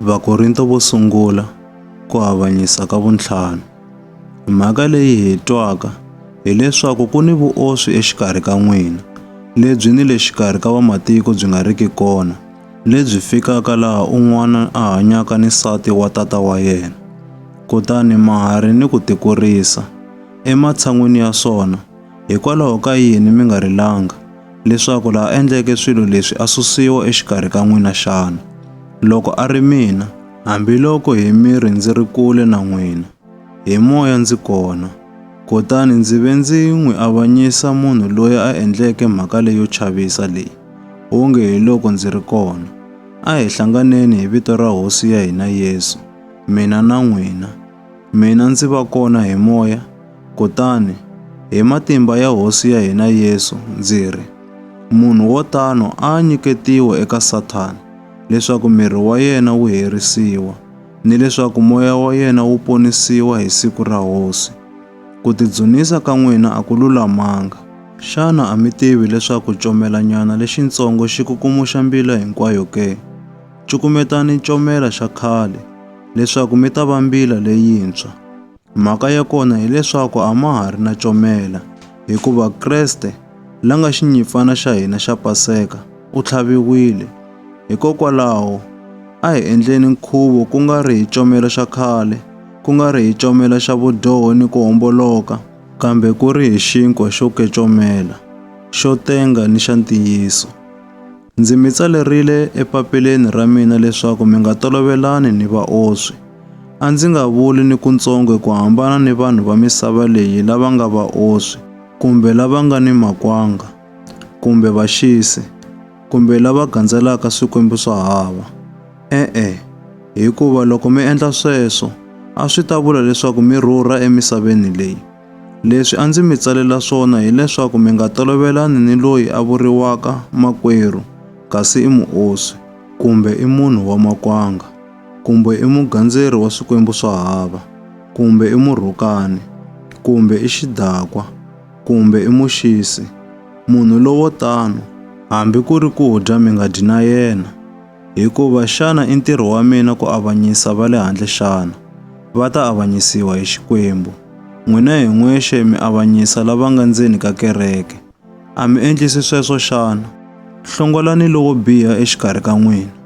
Vakorinto vo sungula ku avanyisa ka vuntlhanu. Mhaka leyi hi twaka hileswaku ku ni vuoswi exikarhi ka n'wina, lebyi ni le xikarhi ka vamatiko byi nga riki kona, lebyi fikaka laha un'wana a hanyaka ni nsati wa tata wa yena. Kutani mahari ni ku tikurisa, ematshan'wini ya swona, Hikwalaho ka yini mi nga rilanga, leswaku la a endleke swilo leswi a susiwa exikarhi ka n'wina xana? Loko a ri mina, hambiloko hi miri ndzi ri kule na n'wina, hi moya ndzi kona. Kutani ndzi ve ndzi n'wi avanyisa munhu loyi a endleke mhaka leyo chavisa leyi, wonge hiloko ndzi ri kona. A hi hlanganeni hi vito ra Hosi ya hina Yesu, mina na n'wina. Mina ndzi va kona hi moya, kutani hi matimba ya Hosi ya hina Yesu ndzi ri, munhu wo tano a a nyiketiwa eka Sathana, leswaku miri wa yena wu herisiwa, ni leswaku moya wa yena wu ponisiwa hi siku ra Hosi. Ku tidzunisa ka n'wina a ku lulamanga. Xana a mi tivi leswaku comelanyana lexintsongo xi kukumuxa mbila hinkwayo ke? Cukumetani comela xa khale, leswaku mi ta va mbila leyintshwa. Mhaka ya kona hileswaku a ma ha ri na comela, hikuva Kreste, la nga xinyimpfana xa hina xa Paseka, u tlhaviwile. Hikokwalaho, a hi endleni nkhuvo ku nga ri hi comela xa khale, ku nga ri hi comela xa vudyoho ni ku homboloka, kambe ku ri hi xinkwa xo kecomela, xo tenga ni xa ntiyiso. Ndzi mi tsalerile epapileni ra mina leswaku mi nga tolovelani ni vaoswi. A ndzi nga vuli ni kuntsongo ku hambana ni vanhu va misava leyi lava nga vaoswi, kumbe lava nga ni makwanga, kumbe vaxisi, kumbe lava gandzelaka swikwembu swa hava. E-e, hikuva loko mi endla sweswo, a swi ta vula leswaku mi rhurha emisaveni leyi. Leswi a ndzi mi tsalela swona hileswaku mi nga tolovelani ni loyi a vuriwaka makwerhu kasi i muoswi, kumbe i munhu wa makwanga, kumbe i mugandzeri wa swikwembu swa hava, kumbe i murhukani, kumbe i xidakwa, kumbe i muxisi. Munhu lowo tano, hambi ku ri ku dya mi nga dyi na yena. Hikuva xana i ntirho wa mina ku avanyisa va le handle xana? Va ta avanyisiwa hi Xikwembu. N'wina hi n'wexe mi avanyisa lava nga ndzeni ka kereke. A mi endlisi sweswo xana? Hlongolani lowo biha exikarhi ka n'wina.